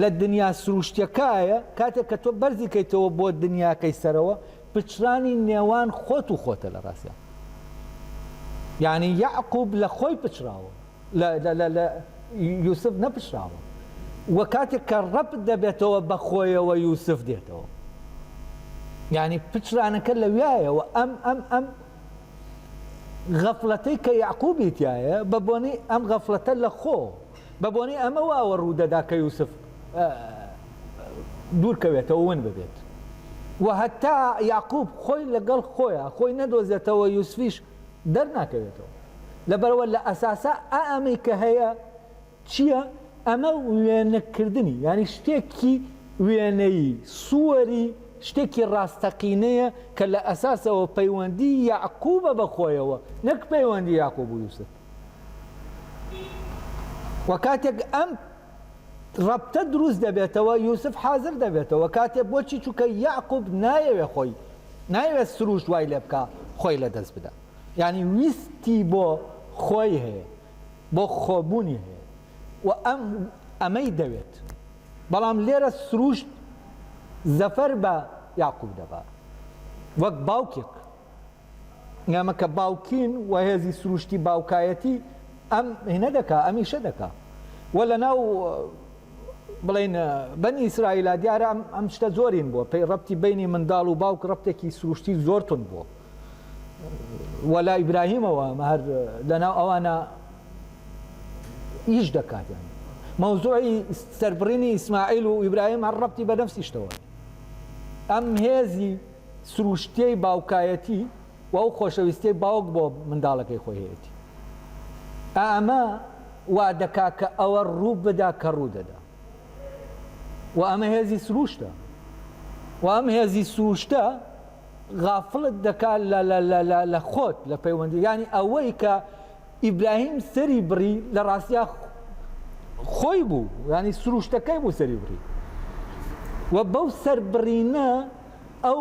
لە دنیا سروشتیەکایە کاتێک کە تۆ بەرزی کەیتەوە بۆ دنیاکەی سەرەوە پچرانی نێوان خۆت و خۆتە لە ڕاستە یعنی یعقوب لە خۆی پچراوە لە یوسف نەپچراوە وە کاتێک کە ڕەپ دەبێتەوە بە خۆیەوە یوسف دێتەوە یعنی پچرانەکە لە وایەوە ئەم ئەم ئەم غەفلەتەی کە یعقوبی تایە بە بۆنی ئەم غەفلەتە لە خۆ بە بۆنەی ئەمە واوە ڕوو دەدا کە یوسف دوور کەوێتەوە ون ببێت و هەتا یاقوب خۆی لەگەڵ خۆیان خۆی نەدۆزێتەوە یوسفیش دەرناکەوێتەوە لەبەرەوە لە ئەساسا ئا ئەمەی کە هەیە چییە ئەمە وێنەکردنی یانی شتێکی وێنەیی سووەری شتێکی ڕاستەقینەیە کە لە ئەساسەوە پەیوەندی یاقوبە بە خۆیەوە نەک پەیوەندی یاقوب و یوسف و کاتێک ئەم ڕەبتە دروست دەبێتەوە یوسف حازر دەبێتەوە کاتێ بۆچی چووکە یاقوب نایەوێ خۆی نایوێت سروشت وای لێ بکە خۆی لە دەست بدە ینی ویستی بۆ خۆی هەیە بۆ خۆبوونی هەیە و ئەم ئەمەی دەوێت بەڵام لێرە سروشت زەفەر بە یاقوب دەبات وەک باوکێک ئێمە کە باوکین و هێزی سروشتی باوکایەتی ئەم هینە دەکا ئەمیشە دەکا و لە ناو بڵین بەنی ئیسرائیلا دیارە ئەم ئەم شتە زۆرین بووە پێی ڕەتی بینی منداڵ و باوک ڕەتێکی سروشتی زۆرتون بووە وەلا ئیبراهیمەوە هەر لەناو ئەوانە ئیش دەکاتیان مەوزوعی سەربڕینی ئیسماعیل و ئیبراهیم هەر ڕەتی بە نەفسیشتەوە ئەم هێزی سروشتیی باوکایەتی و ئەو خۆشەویستیەی باوک بۆ منداڵەکەی خۆی هەیەتی ئا ئەمە وا دەکا کە ئەوە ڕوو بدا کە ڕوو دەدا و ئەمە هێزی سروشتە و ئەم هێزی سروشتە غافڵت دەکا لە لە لە لە لە خۆت لە پەیوەندی یانی ئەوەی کە ئیبراهیم سەری بڕی لە ڕاستیا خۆی بوو ینی سروشتەکەی بوو سەری بڕی و بەو سەربڕینە ئەو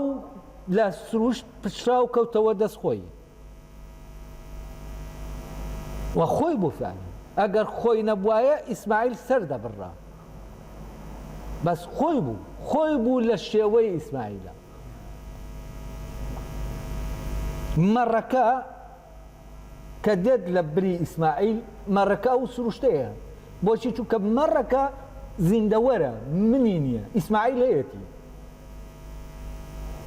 لە سروشت پچرا و کەوتەوە دەست خۆی و خۆی بوفانی ئەگەر خۆی نەبوایە ئیسماعیل سەر دەبڕا بەس خۆی بوو خۆی بوو لە شێوەی ئیسماعیلە مەڕەکە کە دێت لە بری ئیسماعیل مەڕەکە ئەو سروشتەیە بۆچی چونکە مەڕەکە زیندەوەرە منی نییە ئیسماعیل هەیەتی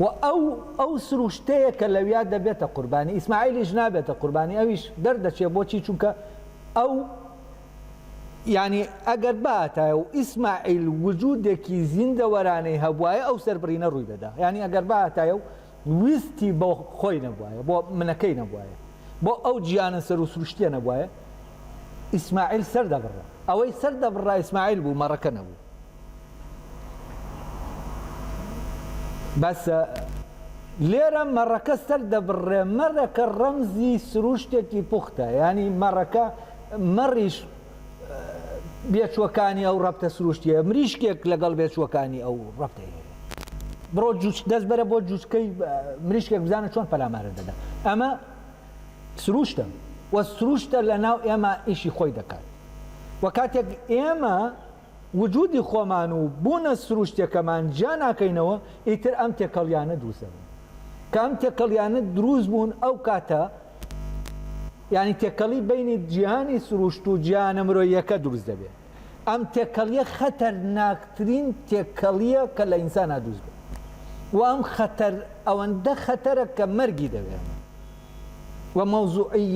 و ئەو ئەو سروشتەیە کە لەویا دەبێتە قوربانی ئیسماعیلیش نابێتە قوربانی ئەویش دەردەچێ بۆچی چونکە ئەو یعنی ئەگەر باتایە و ئیسماعیل وجودێکی زیندەوەرانەی هەبواە ئەو سەربڕینە ڕووی دەدا یعنی ئەگەر باتایە و ویستی بۆ خۆی نەبوایە بۆ منەکەی نەبوایە بۆ ئەو جیانە سەر و سروشتیە نەبوایە ئیسماعیل سەر دەبڕا ئەوەی سەر دەبڕا ئیسماعیل بوو مەڕەکە نەبوو بەسە لێرە مەڕەکە سەر دەبڕێ مەرەکە ڕەمزی سروشتێکی پوختە ینی مەڕەکە مەڕیش بێچوەکانی ئەو ڕەبتە سروشتیە مریشکێک لەگەڵ بێچوەکانی ئەو ڕەبتەی بڕۆ جوچ دەست بەرە بۆ جوچکەی مریشکێک بزانە چۆن پەلامارە دەدا ئەمە سروشتە وە سروشتە لە ناو ئێمە ئیشی خۆی دەکات وە کاتێک ئێمە وجودی خۆمان و بوونە سروشتیەکەمان جیا ناکەینەوە ئیتر ئەم تێکەڵیانە دروست دەبن کە ئەم تێکەڵیانە دروست بوون ئەو کاتە یانی تێکەڵی بینی جیهانی سروشت و جیهانە مرۆیەکە دروست دەبێت ئەم تێکەڵیە خەتەرناکترین تێکەڵیە کە لە ئینسانا دروست بێت و ئەم خەتەر ئەوەندە خەتەرە کە مەرگی دەوێت و مەوزوعی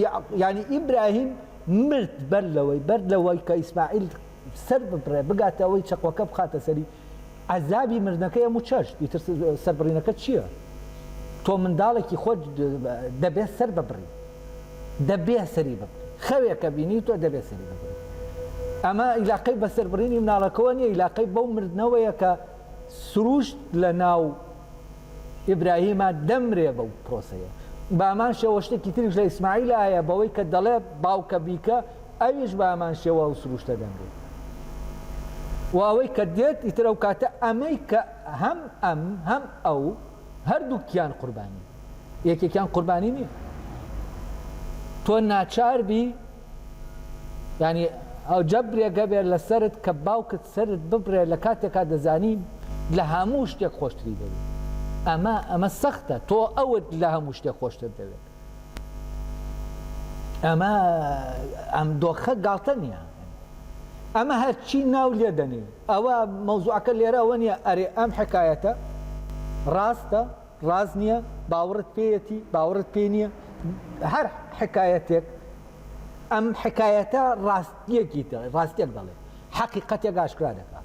یعنی ئیبراهیم مرد بەر لەوەی بەر لەوەی کە ئیسماعیل سەر ببڕێ بگاتە ئەوەی چەقۆکە بخاتە سەری عەزابی مردنەکەی هەموو چەشت ئیتر سەربڕینەکە چییە تۆ منداڵێکی خۆت دەبێت سەر ببڕی دەبێ سەری ببڕی خەوێکە بینی تۆ دەبێت سەری ببڕی ئەمە ئیلاقەی بەسەربڕینی مناڵەکەەوە نیە ئیلاقەی بەو مردنەوەیە کە سروشت لە ناو ئیبراهیمە دەمرێ بەو پرۆسەیە بامان شەوە شتێکی تریش لە ئیسماعیل هەیە بەوەی کە دەڵێ باوکە بیکە ئەویش بە هەمان شێوە ئەو سروشتە دەمرێت و ئەوەی کە دێت ئیتر ئەو کاتە ئەمەی کە هەم ئەم هەم ئەو هەردووکیان قوربانی یەکێکیان قوربانی نییە تۆ ناچار بی ینی ئەو جەبرێگە بێت لەسرت کە باوکت سرت ببرێ لە کاتێکا دەزانین لە هەموو شتێک خۆشتری دەوێت ئەمە ئەمە سەختە تۆ ئەوت لە هەموو شتێک خۆشتر دەوێت ئەمە ئەم دۆخە گاڵتە نییە ئەمە هەرچی ناو لێ دەنی ئەوە مەوزوعەکە لێرە ئەوە نییە ئەرێ ئەم حکایەتە ڕاستە ڕاز نییە باوەڕت پێیەتی باوەڕت پێ نییە هەر حکایەتێک ئەم حکایەتە ڕاستیەکی ڕاستێک دەڵێ حەقیقەتێک ئاشکرا دەکات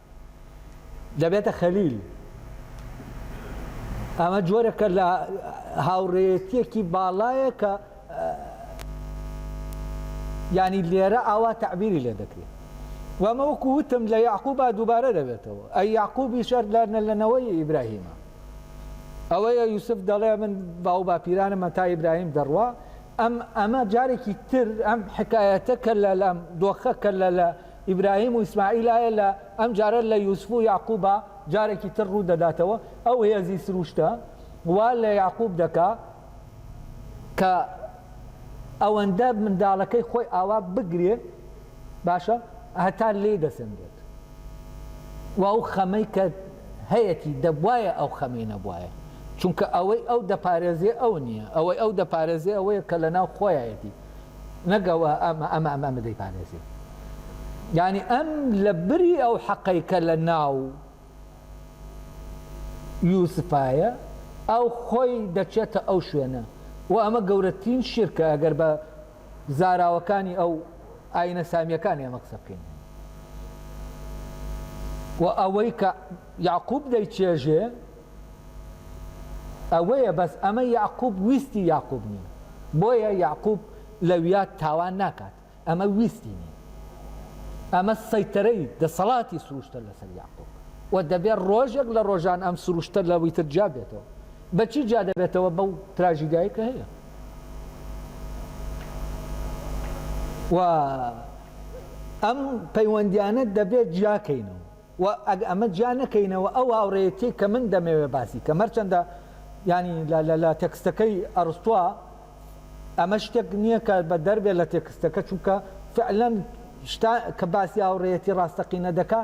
دەبێتە خەلیل. ئەمە جۆرەکە لە هاوڕێیەتیەکی باڵایە کە ینی لێرە ئاوا تعبیری لێ دەکرێت وەمە وەکو وتم لە یاقوبا دووبارە دەبێتەوە ئەی یاقوبی شەر لەنەوەی ئیبراهیمە ئەوەیە یوسف دەڵێ من باو باپیرانمە تا ئیبراهیم دەڕوا ئەم ئەمە جارێکی تر ئەم حکایەتە کە لە لەم دۆخە کە لە لە ئیبراهیم و ئیسماعیل ئایە لە ئەم جارە لە یوسف و یەعقوبا جارێکی تر ڕوو دەداتەوە ئەو هێزی سروشتە وا لە یەعقوب دەکا کە ئەوەندە منداڵەکەی خۆی ئاوا بگرێ باشە هەتا لێی دەسەنگێت و ئەو خەمەی کە هەیەتی دەبوایە ئەو خەمەی نەبوایە چونکە ئەوەی ئەو دەپارێزێ ئەو نییە ئەوەی ئەو دەپارێزێ ئەوەیە کە لەناو خۆیایەتی. نەک ئەوە ئەمە ئەمە ئەمە ئەمە دەیپارێزێ یانی ئەم لە بری ئەو حەقەی کە لە ناو یوسفایە ئەو خۆی دەچێتە ئەو شوێنە و ئەمە گەورەترین شیرکە ئەگەر بە زاراوەکانی ئەو ئاینە سامیەکان ئێمە قسە بکەین و ئەوەی کە یاقوب دەیچێژێ ئەوەیە بەس ئەمە یەعقوب ویستی یاقوب نیە بۆیە یەعقوب لەویا تاوان ناکات ئەمە ویستی نیە ئەمە سەیتەرەی دەسەڵاتی سروشتە لەسەر یاقوب و دەبێت ڕۆژێک لە ڕۆژان ئەم سروشتە لەوەی تر جیا بێتەوە بەچی جیا دەبێتەوە بەو تراژیدای کە هەیە و ئەم پەیوەندیانە دەبێت جیاکەینەوە و ئەگ ئەمە جیا نەکەینەوە ئەو هاوڕێیەتیەی کە من دەمەوێ باسی کەم هەرچەندە یانی لە لە لە تێکستەکەی ئەرستوە ئەمە شتێک نییە کە بە دەربێ لە تێکستەکە چونکە فعلەن شتا کە باسی هاوڕێیەتی ڕاستەقینە دەکا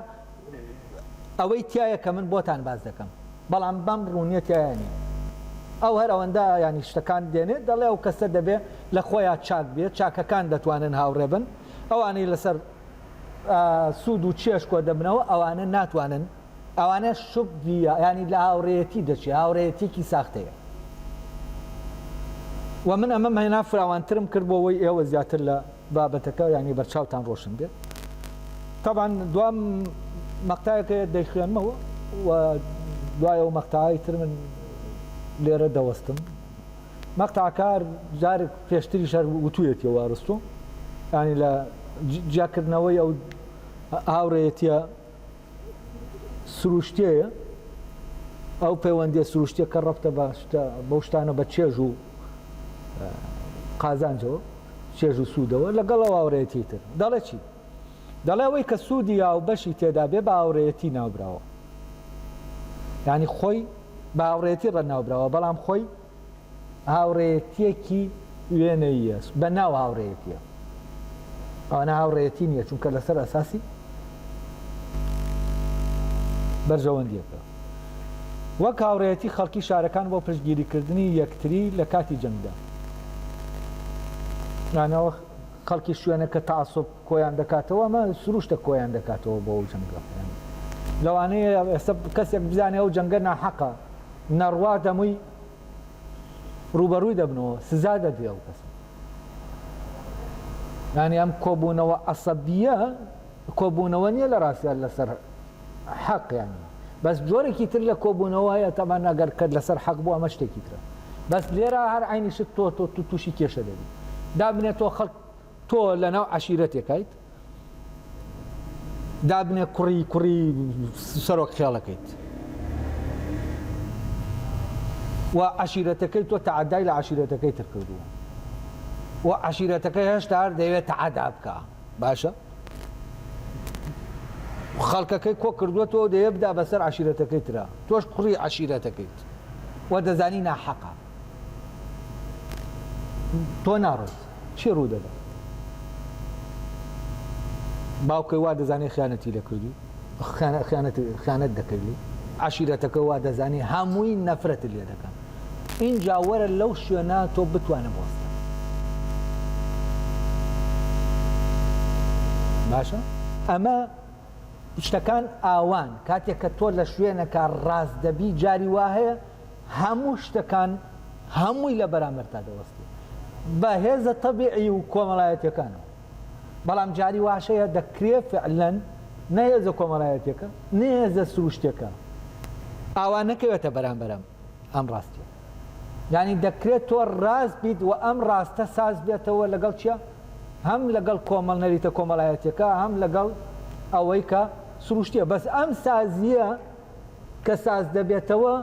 ئەوەی تایە کە من بۆتان باس دەکەم بەڵام بەم ڕوونیە تایە نییە ئەو هەر ئەوەندە ینی شتەکان دێنێت دەڵێ ئەو کەسە دەبێ لە خۆیان چاک بێت چاکەکان دەتوانن هاوڕێبن ئەوانەی لەسەر سوود و چێژ کۆ دەبنەوە ئەوانە ناتوانن ئەوانە شوب ویە ینی لە هاوڕێەتی دەچێ هاوڕێەتێکی ساختەیە و من ئەمە مەنا فراوانترم کرد بۆ ئەوەی ئێوە زیاتر لە بابەتەکە ینی بەرچاوتان ڕۆشن بێت تاوان دوام مەقتایەکە دەیخوێنمەوە و دوایە و مەقتای تر من لێرە دەوەستم مەقتەع کار جارێک پێشتریش هەر وتویەتیەوە ئەرستۆ یانی لە جیا کردنەوەی ئەو هاوڕێیەتیە سروشتیەیە ئەو پەیوەندیە سروشتیە کە ڕەبتە بە شتە بەو شتانە بە چێژ و قازانجەوە چێژ و سوودەوە لەگەڵ ئەو هاوڕێیەتی تر دەڵێ چی؟ دەڵێ ئەوەی کە سوودی هاوبەشی تێدا بێ بە هاوڕێیەتی ناوبراوە یانی خۆی بە هاوڕێیەتی ڕە ناوبراوە بەڵام خۆی هاوڕێیەتیەکی وێنەیە بە ناو هاوڕێیەتیە ئەوانە هاوڕێیەتی نییە چونکە لەسەر ئەساسی بەرژەوەندیەکە وەک هاوڕێتی خەڵکی شارەکان بۆ پشتگیریکردنی یەکتری لە کاتی جەنگدا نانەوە خەڵکی شوێنە کە تەعەسوب کۆیان دەکاتەوە ئەمە سروشتە کۆیان دەکاتەوە بۆ ئەو جەنگە یانی لەوانەیە ئێستا کەسێک بزانێ ئەو جەنگە ناحەقە نەڕوا دەمووی ڕووبەڕووی دەبنەوە سزا دەدرێ ئەو کەس یانی ئەم کۆبوونەوە عەسەبیە کۆبوونەوە نییە لە ڕاستیان لەسەر حەق یانی بەس جۆرێکی تر لە کۆبوونەوە هەیە تەبەن ئەگەر کەت لەسەر حەق بوو ئەمە شتێکی ترە بەس لێرە هەر عینی شت تۆ تۆ تو تووشی کێشە دەبی دابنێ تۆ خەڵک تۆ لە ناو عشیرەتێکیت دابنێ کوڕی کوڕی سەرۆک خێڵەکەیت و عشیرەتەکەی تۆ تعدای لە عشیرەتەکەی تر کردووە و عشیرەتەکە هێشتا هەر دەوێت تعدا بکە باشە خەڵکەکەی کۆ کردوەتەوە دەیە بدا بەسەر عشیرەتەکەی ترا تۆش کوڕی عشیرەتەکەیت و دەزانی ناحەقە تۆ ناڕێت چی ڕوو دەدا باوکەی وا دەزانێت خیانەتی لە کردی خیانەت دەکەی عشیرەتەکە وا دەزانی هەمووی نەفرەت لێ دەکەن ئینجا وەرە لەو شوێنە تۆ بتوانە بوەستە باشە ئەمە شتەکان ئاوان کاتێک کە تۆ لە شوێنەکە ڕاست دەبی جاری وا هەیە هەموو شتەکان هەمووی لە بەرامەر تا دەوەستی بە هێزە تەبیعی و کۆمەڵایەتەکانەوە بەڵام جاری واشەیە دەکرێ فعلەن نەهێزە کۆمەڵایەتەکە نێزە سروشتەکە ئاوا نەکەوێتە بەرامبەرم ئەم ڕاستیە یانی دەکرێت تۆ ڕاست بیت وە ئەم ڕاستە ساز بێتەوە لەگەڵ چیا هەم لەگەڵ کۆمەڵ نەریتە کۆمەڵایەتیەکە هەم لەگەڵ ئەوەی کە سروشتیە بەس ئەم سازیە کە ساز دەبێتەوە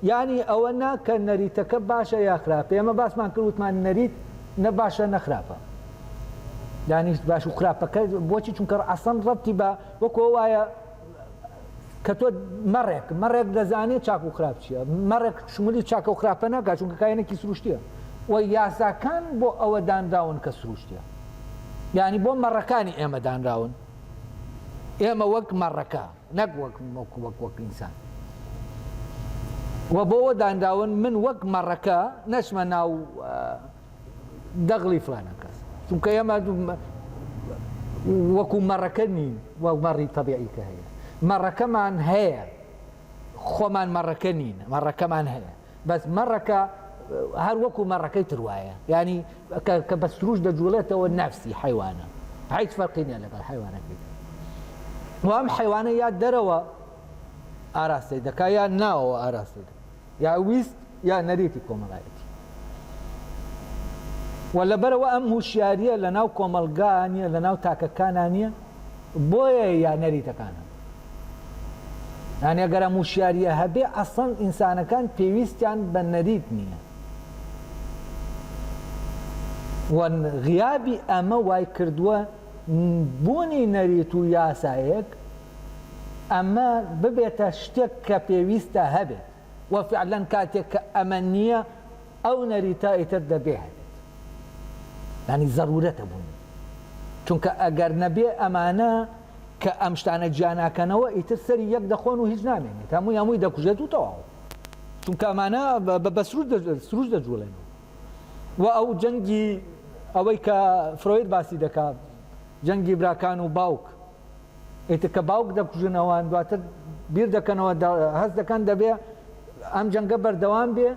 یانی ئەوە نا کە نەریتەکە باشە یا خراپە ئێمە باسمان کردوتمان نەریت نە باشە نەخراپە دانیشت باش و خراپەکە بۆچی چونکە ئەسەن ڕەتی بە وەکۆ وایە کە تۆ مەڕێک مەڕێک دەزانێت چاک و خراپ چییە مەڕێک شمولی چاکە و خراپە ناکات چونکە کایەنێکی سروشتیە و یاساکان بۆ ئەوە دانراون کە سروشتیە یعنی بۆ مەڕەکانی ئێمە دانراون ئێمە وەک مەڕەکە نەک وەک وەک وەک وەک ئینسان و بۆەوە دانراون من وەک مەڕەکە نەچمە ناو دەغڵی فلانە کەس چونکە ئێمە وەکو مەڕەکە نین وە مەڕی تەبیعیکە هەیە مەڕەکەمان هەیە خۆمان مەڕەکە نین مەڕەکەمان هەیە بەس مەڕەکە هەر وەکو مەڕەکەی تروایە ینی کە بە سروش دەجوڵێتەوە نفسی حیوانە هیچ فەرقی نیە لەگەڵ حیوانەکەی وام حیوانە یا دەرەوە ئاراستەی دەکا یا ناوەوە ئاراستەی دەکا یا ویست یا نەریتی کۆمەڵایەتی و لەبەرەوە ئەم هوشیاریە لە ناو کۆمەلگا نیە لە ناو تاکەکانا نیە بۆیە یا نەریتەکانە یانە گەرە موشیاریە هەبێ ئەسەن ئینسانەکان پێویستیان بە نەریت نییە وەن غیابی ئەمە وای کردووە بوونی نەریت و یاسایەک ئەمە ببێتە شتێک کە پێویستە هەبێت و فعلەن کاتێک کە ئەمە نییە ئەو نەریتە ئیتر دەبێ هەبێت یانی زەرورەتە بوونی چونکە ئەگەر نەبێ ئەمانە کە ئەم شتانە جیاناکەنەوە ئیتر سەری یەک دەخۆن و هیچ نامێنێت هەمووی هەمووی دەکوژێت و تەواو چونکە ئەمانە بە سروش دەجوڵێن و ئەو جەنگی ئەوەی کە فرۆید باسی دەکات جەنگی براکان و باوک ئیتر کە باوک دەکوژن ئەوان دواتر بیر دەکەنەوە هەست دەکەن دەبێ ئەم جەنگە بەردەوام بێ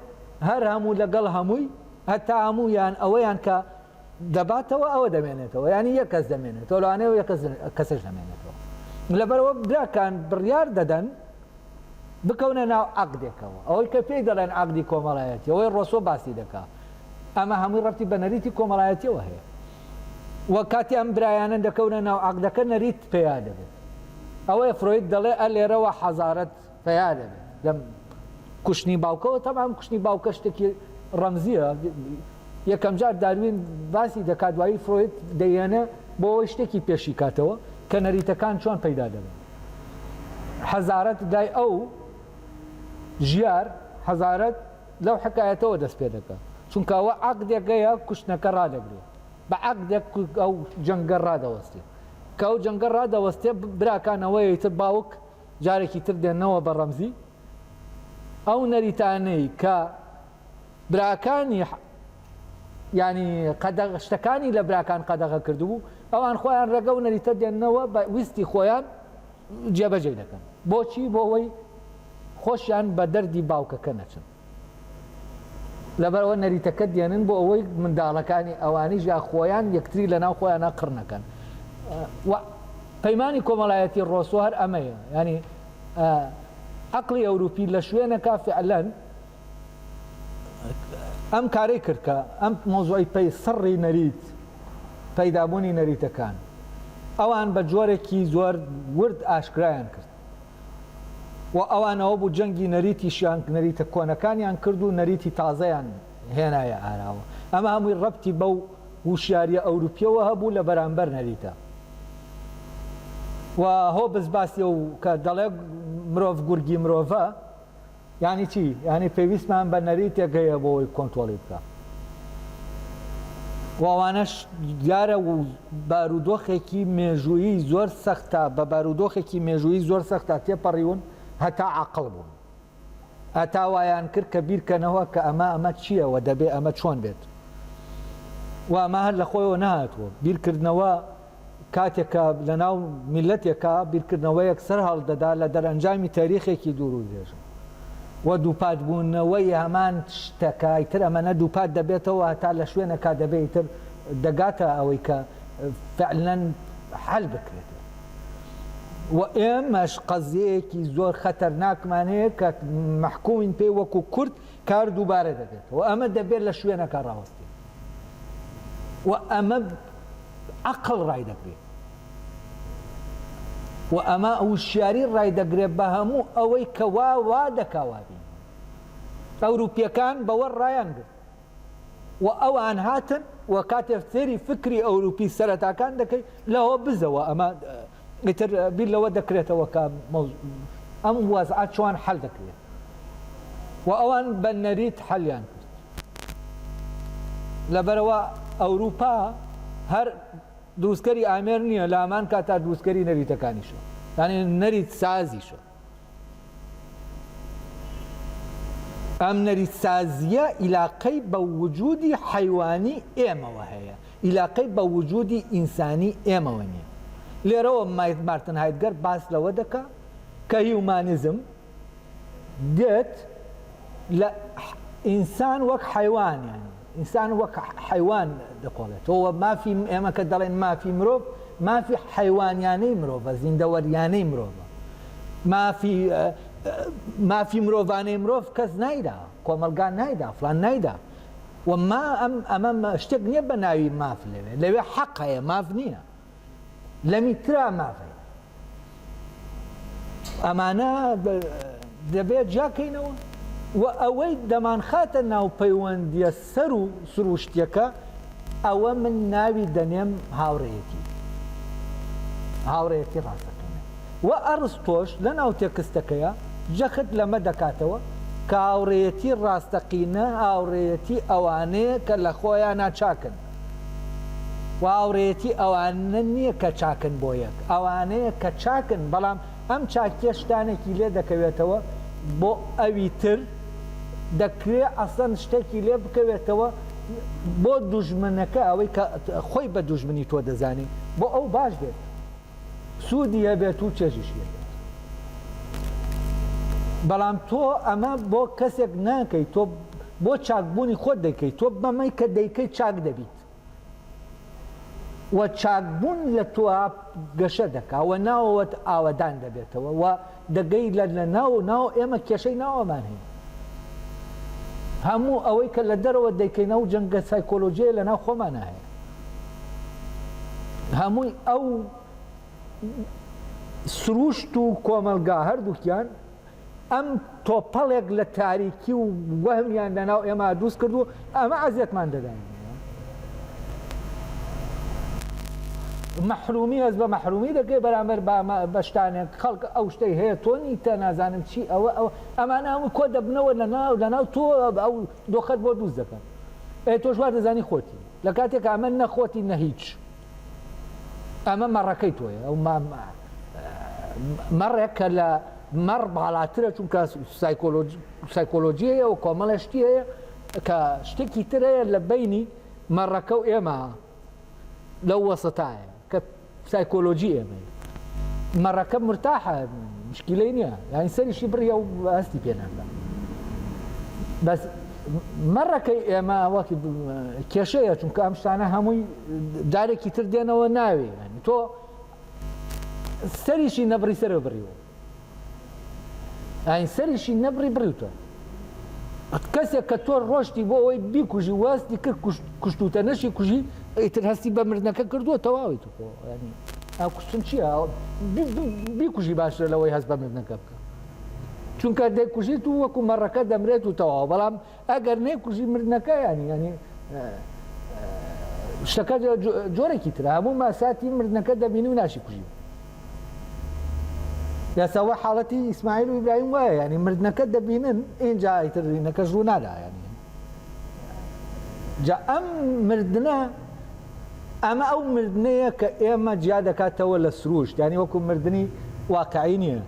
هەر هەموو لەگەڵ هەمووی هەتا هەموو یان ئەوەیان کە دەباتەوە ئەوە دەمێنێتەوە ینی یە کەس دەمێنێت تۆلانەوە یە کەسش نامێنێتەوە لەبەرەوە براکان بڕیار دەدەن بکەونە ناو عقدێکەوە ئەوەی کە پێی دەڵێن عقدی کۆمەڵایەتی ئەوەی ڕۆسۆ باسی دەکات ئەمە هەمووی ڕەتی بە نەریتی کۆمەڵایەتیەوە هەیە و کاتی ئەم برایانە دەکەونە ناو عەقدەکە نەریت پەیا دەبێت ئەوەیە فرۆید دەڵێ ئە لێرەوە حەزارەت پەیا دەبێت لەم کوشتنی باوکەوە تەبان کوشتنی باوکە شتێکی ڕەمزیە یەکەم جار داروین باسی دەکات دوایی فرۆید دەیەنە بۆەوەی شتێکی پێشی کاتەوە کە نەریتەکان چۆن پەیدا دەبن حەزارەت لای ئەو ژیار حەزارەت لەو حەکایەتەوە دەست پێ دەکا چونکە ئەوە عەقدێکەیە کوشتنەکە ڕادەگرێ بە عەقدێک ئەو جەنگە ڕادەوەستێ کە ئەو جەنگە ڕادەوەستێ براکان ئەوەیە ئیتر باوک جارێکی تر دێنەوە بە ڕەمزی ئەو نەریتانەی کە براکانی یانی قەدەغ شتەکانی لە براکان قەدەغە کردبوو ئەوان خۆیان ڕێگە و نەریتە دێنەوە بە ویستی خۆیان جێبەجێ دەکەن بۆچی بۆ ئەوەی خۆشیان بە دەردی باوکەکە نەچن لەبەرئەوە نەریتەکە دێنن بۆ ئەوەی منداڵەکانی ئەوانیش یا خۆیان یەکتری لە ناو خۆیانە قڕ نەکەن و پەیمانی کۆمەڵایەتی ڕۆسۆ هەر ئەمەیە ینی عقلی ئەوروپی لە شوێنەکە فعلەن ئەم کارەی کرد کە ئەم مۆزۆی پێی سڕی نەریت پەیدابوونی نەریتەکان ئەوان بە جۆرێکی زۆر ورد ئاشکرایان کرد و ئەوانەوە بوو جەنگی نەریتیشیان نەریتە کۆنەکانیان کرد و نەریتی تازەیان هێنایە ئاراوە ئەمە هەمووی ڕەبتی بەو هوشیاریە ئەوروپیەوە هەبوو لە بەرامبەر نەریتە و هۆبز باسی و کە دەڵێ مرۆڤ گورگی مرۆڤە یانی چی؟ یانی پێویستمان بە نەریتێک هەیە بۆ ئەوەی کۆنترۆڵی بکا و ئەوانەش دیارە و بارودۆخێکی مێژوویی زۆر سەختە بە بارودۆخێکی مێژوویی زۆر سەختە تێپەڕیون هەتا عاقڵ بوون هەتا وایان کرد کە بیرکەنەوە کە ئەمە ئەمە چییە و دەبێ ئەمە چۆن بێت و ئەمە هەر لە خۆیەوە نەهاتووە بیرکردنەوە کاتێک کە لە ناو میللەتێکا بیرکردنەوەیەک سەر هەڵدەدا لە دەرئەنجامی تەریخێکی دوور و درێژ و دووپات بوونەوەی هەمان شتەکە ئیتر ئەمەنە دووپات دەبێتەوە هەتا لە شوێنێکا دەبێ ئیتر دەگاتە ئەوەی کە فعلەن حەل بکرێت و ئێمەش قەزیەیەکی زۆر خەتەرناکمان هەیە کە مەحکومین پێی وەکو کورد کار دووبارە دەبێتەوە ئەمە دەبێت لە شوێنەکە ڕاوەستێت. و ئەمە عەقڵ ڕایدەگرێ و ئەمە وشیاری ڕایدەگرێ بە هەموو ئەوەی کە وا وا دەکا وا بینی ئەوروپیەکان بەوە ڕایان گرت و ئەوان هاتن و کاتێ فێری فکری ئەوروپی سەرەتاکان دەکەی لەوە بزەوە ئەمە ئیتر بیر لەوە دەکرێتەوە کە ئەم وەزعە چۆن حەل دەکرێت و ئەوان بە نەریت حەلیان کرد. لەبەرئەوە ئەوروپا هەر دروستکەری ئامێر نییە، لە هەمان کاتدا دروستکەری نەریتەکانیشە، یانی نەریت سازیشە. ئەم نەریتسازییە ئیلاقەی بە وجودی حەیوانی ئێمەوە هەیە، ئیلاقەی بە وجودی ئینسانی ئێمەوە نییە. لێرەوە مارتن هایدگەر باس لەوە دەکا کە هیومانیزم گت لە ئینسان وەک حەیوان یانی ئینسان وەک حەیوان دەکۆڵێتەوە، مافی ئێمە کە دەڵێین مافی مرۆڤ، مافی حەیوانیانەی مرۆڤە، زیندەوەریانەی مرۆڤە. مافی مافی مرۆڤانەی مرۆڤ کەس نایدا، کۆمەڵگا نایدا، فڵان نایدا و ما ئەم ئەمە شتێک نییە بە ناوی ماف لەوێ، لەوێ حەق هەیە، ماف نییە. لەمی ترا مافە ئەمانە دەبێت جاکەینەوە و ئەوەی دەمانخاتە ناو پەیوەندیە سەر و سروشتیەکە ئەوە من ناوی دەنێم هاوڕێتی هاوڕێتی ڕاستەکەە و ئەڕز تۆش لە ناو تێکستەکەیە جەخت لەمە دەکاتەوە کە هاوڕێتی ڕاستەقینە هاوڕێتی ئەوانەیە کە لە خۆیان ناچاکن و هاوڕێیەتی ئەوانە نییە کە چاکن بۆ یەک، ئەوانەیە کە چاکن، بەڵام ئەم چاکییە شتانێکی لێ دەکەوێتەوە بۆ ئەوی تر، دەکرێت ئەسڵەن شتێکی لێ بکەوێتەوە بۆ دوژمنەکە، ئەوەی کە خۆی بە دوژمنی تۆ دەزانێت بۆ ئەو باش بێت. سودی هەبێت و چێژیشی هەبێت بەڵام تۆ ئەمە بۆ کەسێک ناکەیت تۆ بۆ چاکبوونی خۆت دەکەیت تۆ بەمەی کە دەیکەی چاک دەبیت وە چاکبوون لە تۆ گەشە دەکا وە ناوەوەت ئاوەدان دەبێتەوە وە دەگەی لە لە ناو ناو ئێمە کێشەی ناوەمان هەیە هەموو ئەوەی کە لە دەرەوە دەیکەین ئەو جەنگە سایکۆلۆژیە لە ناو خۆمانە هەیە هەمووی ئەو سروشت و کۆمەلگا هەردووکیان ئەم تۆپەڵێک لە تاریکی و وەهمیان لە ناو ئێمە دروست کردو ئەمە ئەزیەتمان دەداینەوە مەحرومی هەست بە مەحرومی دەکەی بەرامبەر بە شتانێک خەڵک ئەو شتەی هەیە تۆ نیتە نازانم چی ئەوە ئەو ئەمانە هەموو کۆ دەبنەوە لە ناو لە ناو تۆ ئەو دۆخەت بۆ دووست دەکەن ئەی تۆش وا دەزانی خۆتی لە کاتێک ئەمە نەخۆتی نە هیچ ئەمە مەڕەکەی تۆیە ئەو مەڕێک کە لە مەڕ باڵاترە چونکە سایکۆلۆژیەیە و کۆمەڵە شتی هەیە کە شتێکی تر هەیە لە بینی مەڕەکە و ئێمە لەو وەسەتایە کە سایکۆلۆژی ئێمە مەڕەکە مرتاحە مشکلی نییە یان سەریشی بڕە و هەستی پێناکە بەس مەڕەکەی ئێمە وەک کێشەیە چونکە ئەم شتانە هەمووی دارێکی تر دێنەوە ناوێ تۆ سەریشی نەبڕی سەرەوە بڕیوە ئاین سەریشی نەبڕی بڕیوتە کەسێک کە تۆ ڕۆشتی بۆ ئەوەی بیکوژی واستی کرد کوشتوتە نەشی کوژی ئیتر هەستی بە مردنەکە کردووە تەواوی تو ئەو کوشتن چییە بیکوژی باشتر لەوەی هەست بە مردنەکە بکە چونکە دەیکوژیت و وەکو مەڕەکە دەمرێت و تەواو بەڵام ئەگەر نەیکوژی مردنەکە یانی یانی شتەکە جۆرێکی ترە هەموو ماساتی مردنەکە دەبینی و ناشی کوژی یاساوە حاڵەتی ئیسماعیل و ئیبراهیم وایە ینی مردنەکە دەبینن ئینجا ئیترینەکە ژوو نادایانی جا ئەم مردە ئەمە ئەو مردنەیە کە ئێمە جیا دەکاتەوە لە سروشت ینی وەکو مردنی واقعی نییە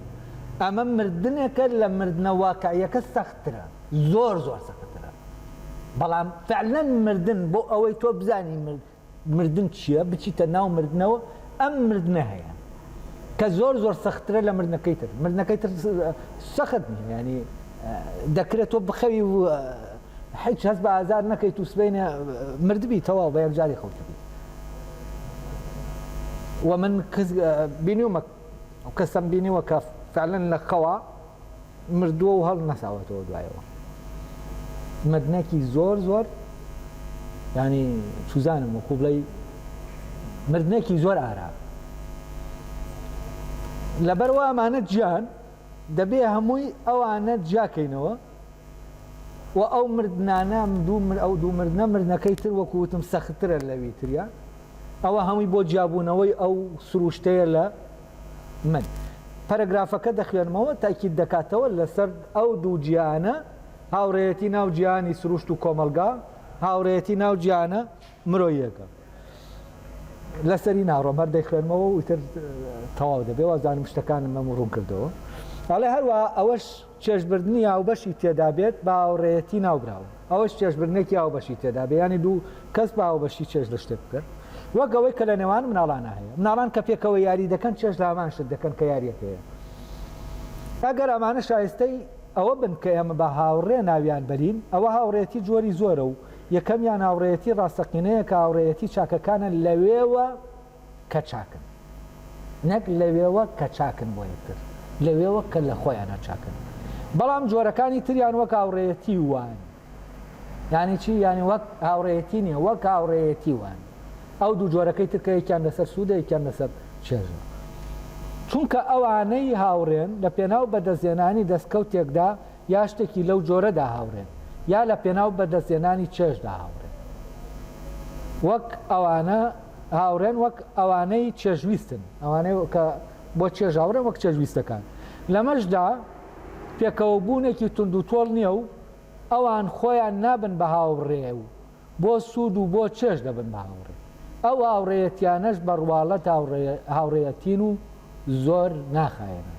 ئەمە مردنێکە لە مردنە واقعیەکە سەختترە زۆر زۆر سەختترە بەڵام فعلەن مردن بۆ ئەوەی تۆ بزانی مرد مردن چییە بچیتە ناو مردنەوە ئەم مردنە هەیە کە زۆر زۆر سەختترە لە مردنەکەی تر مردنەکەی تر سەخت ینی دەکرێت تۆ بخەوی و حیچ هەست بە ئازار نەکەیت و سبینە مردبی تەواو بە یەکجاری خەوتبی وە من بینیومە کەسم بینیوە کە فعلەن لە خەوە مردووە و هەڵنەساوەتەوە دوایەوە مردنەکی زۆر زۆر ینی سوزانم و خوبڵی مردنەکی زۆر ئارا لەبەر وامانە جیان دەبێ هەمووی ئەوانە جیاکەینەوە و ئەو مردنانام دوو من ئەو دوو مردە مردنەکەی تر وەکوتم سەختترە لەوی تریان ئەوە هەمووی بۆ جیابوونەوەی ئەو سروشتەیە لە من پەرەگرافەکە دەخوێنمەوە تاکید دەکاتەوە لەسەر ئەو دوو جیهانە، هاوڕێیەتی ناو جیهانی سروشت و کۆمەڵگا، هاوڕێیەتی ناو جیهانە مرۆییەکە. لەسەری ناڕۆم هەر دەیخوێنمەوە و ئیتر تەواو دەبێ وازانم شتەکانم مەم ڕوون کردەوە. ئەڵێ هەروەها ئەوەش چێژبردنی هاوبەشی تێدا بێت بە هاوڕێیەتی ناوبراون، ئەوەش چێژبردنێکی هاوبەشی تێدا بێت یانی دوو کەس بە هاوبەشی چێژ لە شتێک بکەن وەک ئەوەی کە لە نێوان مناڵانا هەیە. مناڵان کە پێکەوە یاری دەکەن چێژ لە هەمان شت دەکەن کە یارییەک هەیە. ئەگەر ئەمانە شایستەی ئەوە بن کە ئێمە بە هاوڕێ ناویان بەرین، ئەوە هاوڕێیەتی جۆری زۆرە و یەکەمیان هاوڕێیەتی ڕاستەقینەیە کە هاوڕێیەتی چاکەکانە لەوێوە کە چاکن نەک لەوێوە کە چاکن بۆ یەکتر لەوێوە کە لە خۆیانا چاکن بەڵام جۆرەکانی تریان وەک هاوڕێیەتی وان یانی چی یانی وەک هاوڕێیەتی نیە وەک هاوڕێیەتی وان ئەو دوو جۆرەکەی تر کە یەکیان لەسەر سوودە یەکیان لەسەر چێژە چونکە ئەوانەی هاوڕێن لە پێناو بەدەستێنانی دەستکەوتێکدا یا شتێکی لەو جۆرەدا هاوڕێن یا لە پێناو بەدەستێنانی چێژدا هاوڕێن وەک ئەوانە هاوڕێن وەک ئەوانەی چێژویستن، ئەوانەی کە بۆ چێژ هاوڕێن وەک چێژویستەکان. لەمەشدا پێکەوەبوونێکی توندوتۆڵ نییە و ئەوان خۆیان نابن بە هاوڕێ و بۆ سوود و بۆ چێژ دەبن بە هاوڕێ. ئەو هاوڕێیەتییانەش بە ڕواڵەت هاوڕێیەتین و زۆر ناخایەنن.